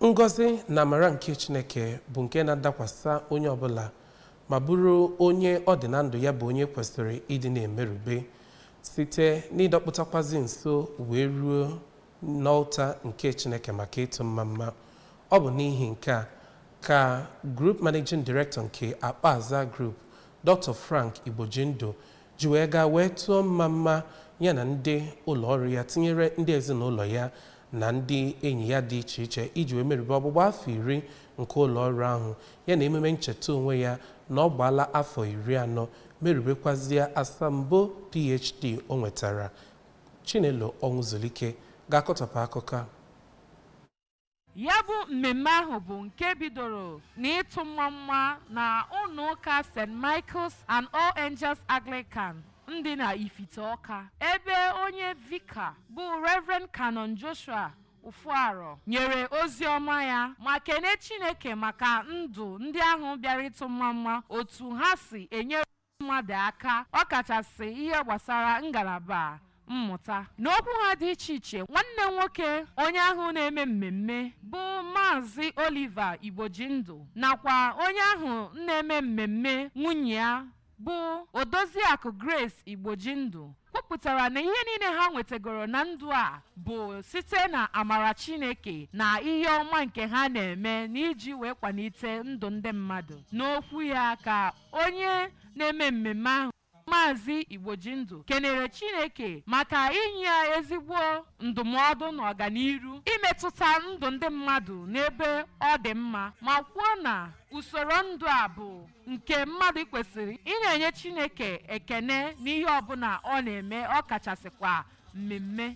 ngọzi na amara nke chineke bụ nke na-adakwasa onye ọbụla ma bụrụ onye ọ dị na ndụ ya bụ onye kwesịrị ịdị na-emerube site n'ịdọkpụtakwazi nso wee ruo n'ọlta nke chineke maka ịtụ mma mma ọ bụ n'ihi nke a ka group managing director nke akpoazaa group dr frank igbojindụ ji wee gaa wee tụọ mma mma ya na ndị ụlọ ọrụ ya tinyere ndị ezinụlọ ya na ndị enyi ya dị iche iche iji wee merube ọgbụgba afọ iri nke ụlọ ọrụ ahụ ya na emume ncheta onwe ya na ọ gbaala afọ iri anọ merubekwazie asambo phd o nwetara chinelo ọnwụzulike ga-akọtọpụ akụkọ a Ya bụ mmemme ahụ bụ nke bidoro n'ịtụ mma mma na ụlọ ụka St. Michael's and All Angels Anglican dị na Ifite Ọka ebe onye vika bụ Reverend Canon Joshua Ufuaro nyere ozi ọma ya ma kene Chineke maka ndụ ndị ahụ bịara ịtụ mma mma otu ha si enyere mmadụ aka ọ kachasị ihe gbasara ngalaba mmụta. N'okwu ha dị iche iche, nwanne nwoke onye ahụ na-eme mmemme bụ Maazị Oliver Igbojindụ nakwa onye ahụ na-eme mmemme nwunye ya bụ Odoziakụ Grace Igbojindụ kwupụtara na ihe niile ha nwetagoro na ndụ a bụ site na amara Chineke na ihe ọma nke ha na-eme n'iji wee kwalite ndụ ndị mmadụ. N'okwu ya ka Onye na-eme mmemme ahụ Maazị Igbojindụ kenere Chineke maka inye ya ezigbo ndụmọdụ na ọganiru imetụta ndụ ndị mmadụ n'ebe ọ dị mma ma kwuo na usoro ndụ a bụ nke mmadụ kwesịrị ị na-enye Chineke ekene n'ihe ọbụla ọ na-eme ọ kachasịkwa mmemme